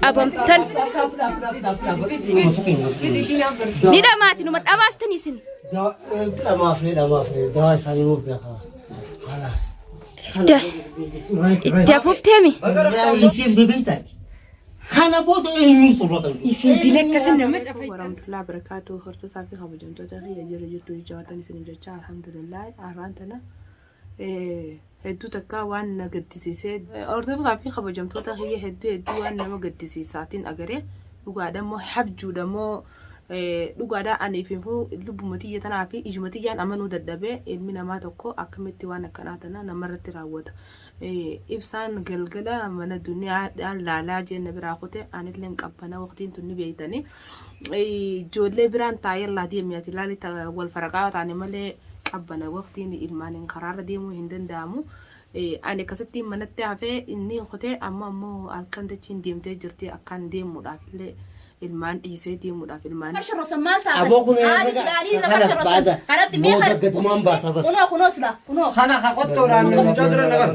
qabamtan ni dhamaati numa dhamaastan isin Da- itti afuufteemi Kana booda eenyu turra kan Isin dila akkasii nama cafayta. warahmatullahi wabarakatuh hortotaa fi kabajamtoota kiyya jirra jirtu jajjabaatan isin jechaa alhamdulillah arraan tana hedduu takkaa waan na gaddisiisee hordoftoota fi kabajamtoota kiyya hedduu hedduu waan nama gaddisiisaatiin agaree dhugaadha immoo habjuudha immoo dhugaadha aniif immoo lubbuma tiyya tanaa fi ijuma tiyyaan amanuu dadhabee ilmi namaa tokko akkamitti waan akkanaa tana namarratti raawwata ibsaan galgala mana duniyaa laalaa jeen na biraa kute anilleen qabbana waqtiin tun ni beeytanii ijoollee biraan taa'ellaa deemi ati ilaali wal faraqaa taane malee qabbana waqtiin ilmaaniin karaarra deemuu hin danda'amu. Ani akkasitti manatti hafee inni kutee amma ammoo halkan dachiin deemtee jirti akkaan deemuudhaaf illee ilmaan dhiisee deemuudhaaf ilmaan. Sharrosan maal taatan? Aboo kun eegaa Haadhi midhaanii lafa kanas sharrosan. baada. Kanatti mee Booda kana- gatumaan baasa bas. Kunoo kunoo silaa kunoo. Kana ka qottoodhaan mucaa dura na bara.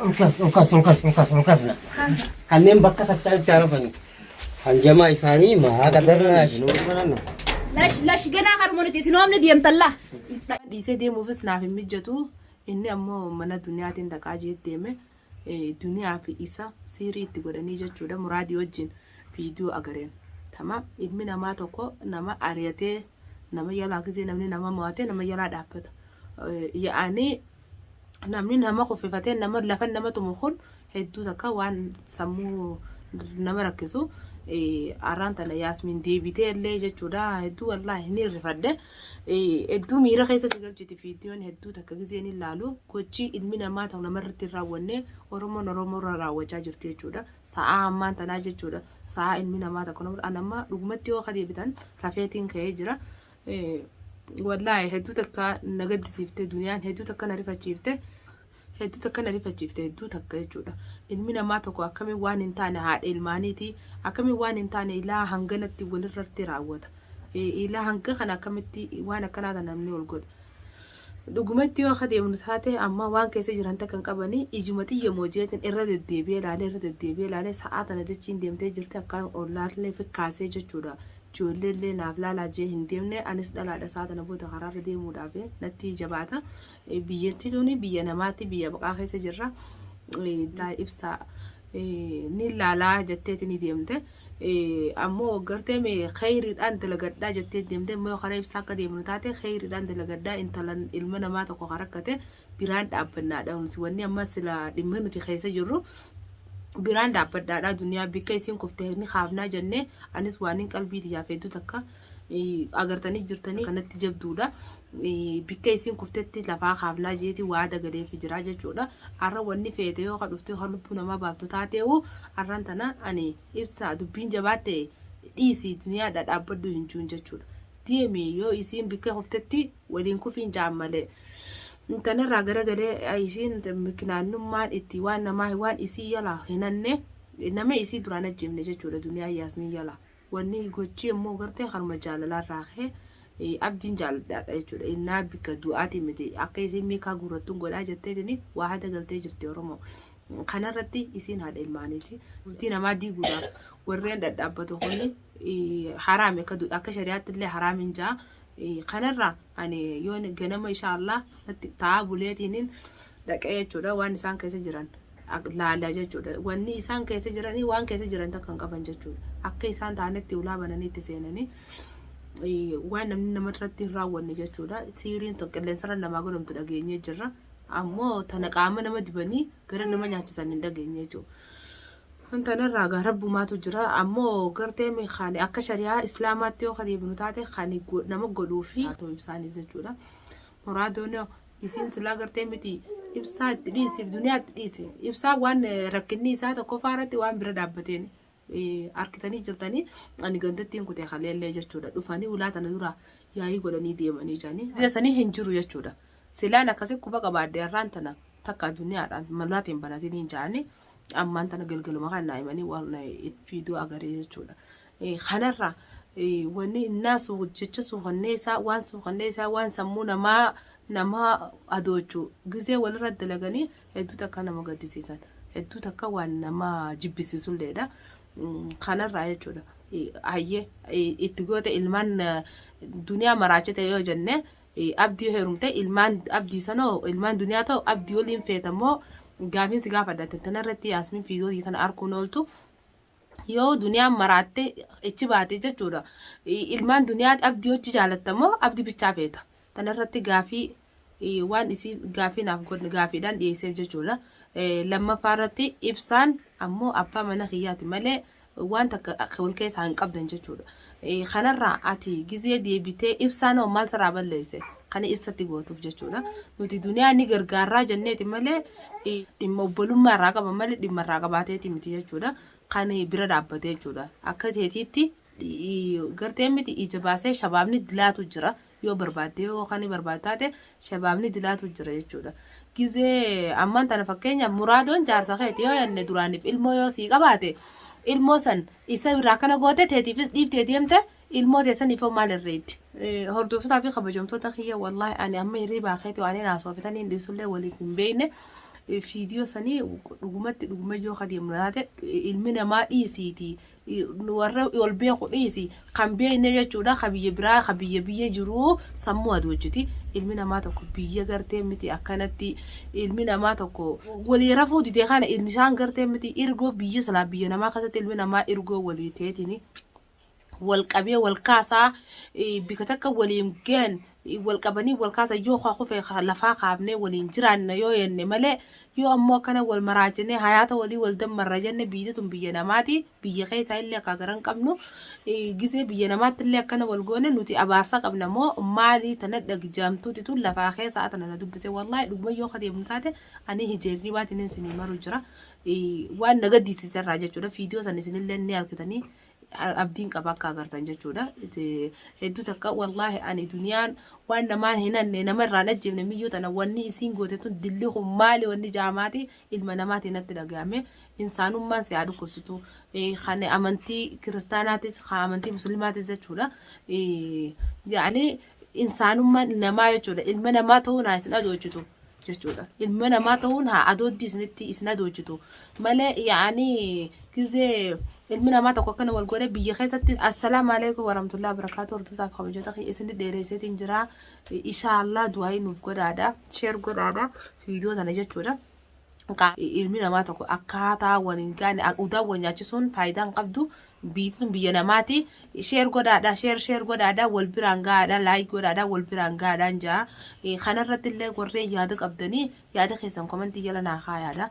Olkas, olkas, olkas, olkas, olkas na. Kanneen bakka tattaanitti arafanii. Hanjamaa isaanii mahaa qadarnaa. Lash lash ganaa haruma nuti isin oomni deemtallaa. Dhiisee deemuufis naaf hin mijjatu. Inni ammoo mana duniyaatiin dhaqaa jee deeme. Duniyaa fi isa siirii itti godhanii jechuudha. Muraadii wajjin viidiyoo agareen. Tama ilmi namaa tokko nama ari'atee nama yalaa gisee namni nama mo'atee nama yalaa dhaabbata. Yaa'anii namni nama kuffifatee nama lafa nama tumu kun hedduu takka waan sammuu nama rakkisu arraan tana yaasmiin deebitee illee jechuudha hedduu wallaahi ni rifadhe hedduu miira keessa si galchiti fiidiyoon hedduu takka gizee ni laalu gochii ilmi namaa ta'u namarratti hin raawwanne oromoon oromoo irra raawwachaa jirti jechuudha sa'aa ammaan tanaa jechuudha sa'aa ilmi namaa takka nama anamma dhugumatti yoo ka deebitan rafeetiin ka'ee jira wallaahi hedduu takka na gaddisiifte duniyaan hedduu takka na rifachiifte hedduu takka na rifachiifte hedduu takka jechuudha ilmi namaa tokko akkamiin waan hin taane haadha ilmaaniiti akkamiin waan hin taane ilaa hanganatti walirratti raawwata ilaa hanga kana akkamitti waan akkanaa kana namni ol godha Dhugumatti yoo akka deemnu taate amma waan keessa jiran takka hin qabanii ijuma xiyya moojeetiin irra deddeebi'ee ilaalee irra deddeebi'ee ilaalee sa'aa tana jechiin deemtee jirti akkaan ollaallee fikkaasee jechuudha. Ijoollee illee naaf laalaa jee hin deemne anis dhalaadha sa'aa tana booda karaarra deemuudhaaf natti jabaata. Biyyattii tuni biyya namaatti biyya baqaa keessa jirra. Ibsaa ni laalaa jetteeti ni deemte. ammoo gartee mee khayriidhaan dalagadhaa jettee deemtee immoo karaa ibsaa akka deemnu taate khayriidhaan dalagadhaa intalan ilma namaa tokko kan rakkate biraan dhaabbannaadha nuti wanni amma sila dhimma nuti keessa jirru biraan dhaabbadhaadha duniyaa bikka isiin kufte ni kaafnaa jennee anis waan hin qalbii tiyyaaf hedduu takka agartanii jirtanii kanatti jabduudha. Bikka isiin kuftetti lafaa kaafnaa jeeti waa dagaleefi jiraa jechuudha. Har'a wanni feete yoo ka dhuftee ka lubbuu namaa baaftu taateewu har'an tana ani ibsaa dubbiin jabaatte dhiisii duniyaa dhadhaabbaddu hin juun jechuudha. Deemi yoo isiin bikka kuftetti waliin kufiin jaan malee. Tanarraa garagalee isiin mikinaannummaan itti waan namaa waan isii yalaa hinanne nama isii duraan ajjeefne jechuudha duniyaa yaasmiin yalaa. Wanni gochii ammoo gartee kanuma jaalalaa irraa ka'ee eh, abdiin jaaladhaadha jechuudha. Innaa bika du'aatiin miti akka isiin miikaa guurrattuun godhaa jetteetini waa hada galtee jirti Oromoo. Kanarratti isiin haadha ilmaaniiti. Bultii namaa diiguudhaaf warreen dhadhaabbatu kuni eh, haraami akka du- akka shari'aatti illee haraamiin ja'a. Eh, Kanarraa ani yoo ganama inshaa Allah natti ta'aa buleetiinin dhaqee jechuudha waan isaan keessa jiran laala jechuudha. Wanni isaan keessa jiranii waan keessa jiran takka hin qaban jechuudha. Akka isaan taanetti ulaa bananii itti seenanii eh, waan namni nama irratti hin raawwanne jechuudha. Siiriin tun qilleensarra namaa godhamtu dhageenyee jirra. Ammoo tana qaama nama dibanii gara nama nyaachisan hin dhageenye jechuudha. Kanarraa gaa rabbumaatu jira. Ammoo gartee kan akka shari'aa islaamaatti yoo kan deebinu taate kan go- nama godhuu fi haa ta'u ibsaanis jechuudha. Horaa doonoo isiin silaa gartee miti ibsaa itti dhiisiif duniyaa itti dhiisi. Ibsaa waan eh, rakkinni isaa tokkoffaa irratti waan bira dhaabbateen eh, harkitanii jirtanii ani gandattiin kutee kaleellee jechuudha. Dhufanii ulaa tana dura yaa'ii godhanii deemanii jiranii. Zeesanii hin jiru jechuudha. Silaan akkasii quba qabaadde har'aan tana takka duniyaadhaan malaatiin banatanii jaanii ammaan tana galgaluma kan naa'imanii waan eh, fiiduu agaree jechuudha. Kanarra wanni innaa jecha suukanneessaa waan suukanneessaa waan sammuu namaa namaa adoochu gizee walirra dalaganii hedduu takka nama gaddisiisan hedduu takka waan nama jibbisiisulleedha. Kanarraa jechuudha. Hayyee itti goote ilmaan duniyaa maraachite yoo jenne abdii heerumte ilmaan abdii sanoo ilmaan duniyaa ta'u abdii waliin feetamoo gaafiinsi gaafadha tanarratti yaasmiin fiidootii tana arkuun ooltu. yoo duniyaan maraattee ichi baate jechuudha. I- Ilmaan duniyaa abdii hojii jaalatta moo abdi bichaa feeta? Kana irratti gaafii i, waan isii gaafii naaf godhe gaafiidhaan dhiyeesseef jechuudha. Eh, Lammaffaa irratti ibsaan ammoo abbaa mana kiyyaati malee waan takka akka wal keessaa hin qabdan jechuudha. Eh, kanarraa ati gizee deebitee ibsaan hoo maal sirraa balleesse kana ibsatti gootuuf jechuudha nuti duniyaa ni gargaarraa jenneeti malee eh, dhimma obbolummaa irraa qaba malee dhimma irraa qabaateeti miti jechuudha kan eh, bira dhaabbate jechuudha akka teetiitti eh, gartee miti ija baasee shabaabni dilaatu jira yoo barbaadde yoo kan barbaaddu taate shabaabni dilaatu jira jechuudha. Gizee ammaan tana fakkeenyaaf muraadoon jaarsa keeti yoo yanne duraaniif ilmoo yoo sii qabaate ilmoo san isa biraa kana goote teetiifis dhiiftee deemte ilmoo teessaniif maal irreetti. Hordoftotaa fi kabajamtoota kiyya wallaahi ani amma hirribaa keeti waan hin haasofatan hin dhiisullee waliif hin beekne. Fiidiyoo sanii dhugumatti dhuguma yoo kadeemnu taate ilmi namaa dhiisiiti warra wal beeku dhiisi kan beekne jechuudha ka biyya biraa ka biyya biyya jiru sammuu adoojjiti ilmi namaa tokko biyya gartee miti akkanatti ilmi namaa tokko walii rafuu didee kana ilmi isaan gartee miti irgoo biyya silaa biyya namaa keessatti ilmi namaa irgoo walii teetini wal qabee wal kaasaa eh, bika takka waliin ga'an wal qabanii wal kaasa yoo kaa kufe lafaa kaafnee waliin jiraanna yoo jenne malee yoo ammoo akkana wal maraachinee hayaata walii wal dammarra jenne biyyi tun biyya namaati biyya keessaa illee akka garan qabnu gizee biyya namaatti illee akkana wal goone nuti abaarsa qabna moo maalii tana dhagjaamtuuti tun lafaa keessaa tana na dubbise wallaahi dhuguma yoo kadeemu taate ani hijeerrii baatiin isinii maru jira waan na gaddisiiserraa jechuudha fiidiyoo san isinillee ni argitanii abdiin qaba akka agartan jechuudha. Hedduu takka wallaahi ani duniyaan waan namaan hin hanne nama irraan ajjeefne miyyuu tana wanni isiin goote tun dilli kun maali wanni jaamaati ilma namaati natti dhaga'ame insaanummaan si haa dhukkubsitu kan amantii kiristaanaatis kan amantii muslimaatis jechuudha. Yaani insaanummaa namaa jechuudha. Ilma namaa ta'uun haa isin adoochitu jechuudha. Ilma namaa ta'uun haa adooddi isinitti isin adoochitu malee yaa'anii gizee ilmi namaa tokko akkana wal godhe biyya keessatti assalaamu alaikum warahmatullahi wabarakatuh hordosaa fi kabajota kiyya isin dheereesseetiin jira. Ishaallah du'aayi nuuf godhaadha. Sheer godhaadha. Viidiyoo tana jechuudha. ilmi namaa tokko akkaataa waliin gaane udaa wal nyaachisuun faayidaa hin qabdu biitisuun biyya namaati sheer godhaadha sheer sheer godhaadha wal biraan gaadha laayik godhaadha wal biraan gaadhaan jaa kanarratti illee warreen yaada qabdanii yaada keessan komentii jala naa kaayaadha